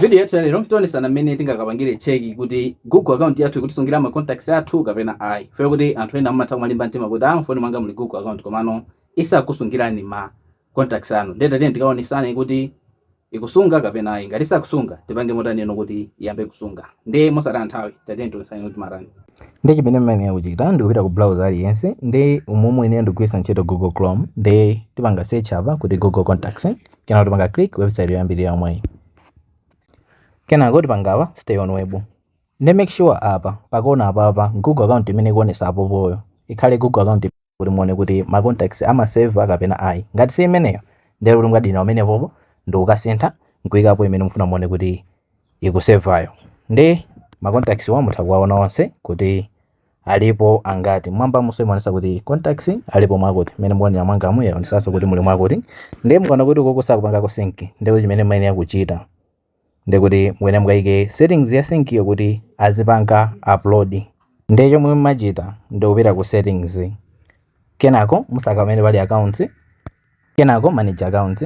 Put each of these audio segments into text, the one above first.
Video yathu ya lero tionesana mmene tingakapangire cheki kuti Google account yathu ikutisungira ma contacts athu kapena ayi. Chifukwa choti anthu ena amatha kumalimba mtima kuti ah mufoni mwanga muli Google account komano isakukusungirani ma contacts anu. Ndiye tatiyeni tikaonesane kuti ikusunga kapena ayi. Ngati siikusunga tipange motani kuti iyambe kusunga. Ndiye mosataya nthawi tatiyeni tionesane kuti timatani. Ndiye chimene muyenera kuchita ndi kupita ku browser aliyense ndiye umu muyenera ndi kugwiritsa ntchito Google Chrome ndiye tipanga search apa kuti Google contacts. kenako tipanga click website yoyambirira yomweyi kenako tipanga apa stay on web nde make sure apa pakona apapa google account imene ikuonesa apopoyo ikhale google account kuti muone kuti ma contacts amaseva kapena ayi ngati si imeneyo nde kuti mukadina pomwepopo ndikukasintha nkuikapo imene mufuna muone kuti ikusevayo ndi ma contacts-wa mutha kuwaona onse kuti alipo angati mmwambamunso imaonetsa kuti contacts alipo mwakuti mmene mukuonera mwangamu yaonetsanso kuti muli mwakuti ndiye mukaona kuti ukoko sakupangako sync ndiye kuti chimene mumayenera kuchita ndiye kuti mukuyenera mukayike settings ya sync-yo kuti azipanga upload ndiye chomwe mumachita ndikupita ku settings kenako musaka pamene pali accounts kenako manage account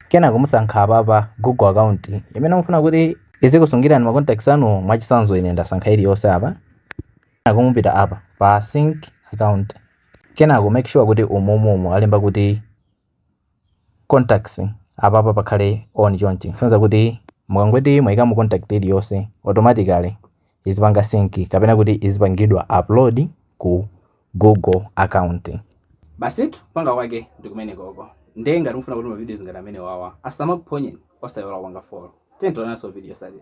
kenako musankha apa pa google account imene mufuna kuti izikusungirani ma contacts anu mwachitsanzo ine ndasankha iliyonse apa kenako mupita apa pa sync account kenako make sure kuti umumu alemba kuti contacts apapa pakhale on chonchi kusonyeza kuti mukangoti mwayikamo contact iliyonse automatically izipanga sync kapena kuti izipangidwa upload ku google account. Basitu kupanga kwake ndi kumenekoko nde ngati mufuna kuti ma videos ngati amenewawa asamakuphonyeni osaiwala kupanga follow tiyeni tionanso video yotsatira.